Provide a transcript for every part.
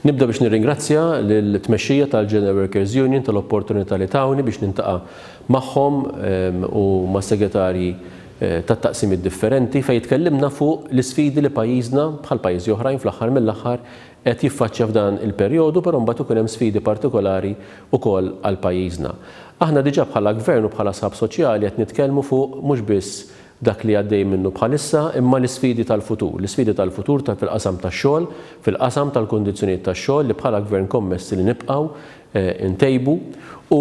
Nibda biex nirringrazzja lill-tmexxija tal-General Workers Union tal-opportunità li tawni biex nintaqa' magħhom u mas-segretarji tat-taqsimiet differenti fejn tkellimna fuq l-isfidi li pajjiżna, bħal pajjiżi oħrajn fl-aħħar mill-aħħar, qed jiffaċċja f'dan il-perjodu però mbagħad ikun hemm sfidi partikolari wkoll għal pajjiżna. Aħna diġà bħala Gvern u bħala sħab soċjali qed nitkellmu fuq mhux biss dak li għaddej minnu bħalissa, imma l-isfidi tal-futur, l-isfidi tal-futur ta' fil-qasam tax-xogħol, fil-qasam tal-kundizzjonijiet tax-xogħol li bħala Gvern kommessi li nibqgħu ntejbu u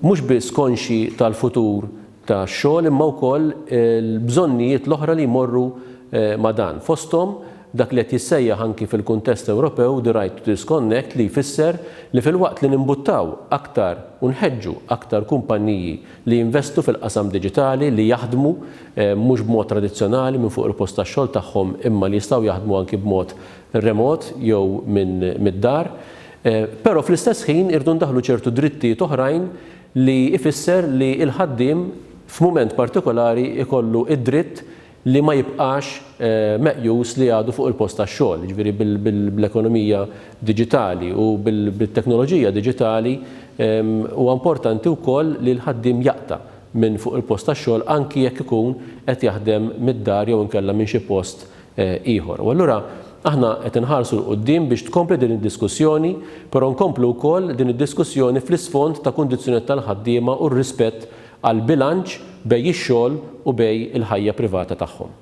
mhux biss konxji tal-futur tax-xogħol imma wkoll il-bżonnijiet l-oħra li jmorru ma' dan, fosthom dak li qed jissejjaħ anki fil-kuntest Ewropew the right to disconnect li jfisser li filwaqt li nimbuttaw aktar u nħeġġu aktar kumpanniji li jinvestu fil-qasam diġitali, li jaħdmu mhux b'mod tradizzjonali minn fuq il-post tax-xogħol tagħhom imma li jistgħu jaħdmu anki b'mod remot jew minn mid-dar. Però fl-istess ħin irridu ndaħħlu ċertu drittijiet oħrajn li jfisser li l-ħaddiem f'mument partikolari jkollu d-dritt li ma jibqax meqjus li għadu fuq il-post tax-xogħol, jiġifieri bl-ekonomija diġitali u bit-teknoloġija diġitali, huwa importanti wkoll li l-ħaddiem jaqta' minn fuq il-post tax-xogħol anki jekk ikun qed jaħdem mid-dar jew inkella minn xi post ieħor. U allura aħna qed inħarsu 'l quddiem biex tkompli din id-diskussjoni, però nkomplu wkoll din id-diskussjoni fl-isfond ta' kundizzjonijiet tal-ħaddiema u r-rispett għall-bilanċ bej ix-xogħol u bej il-ħajja privata tagħhom.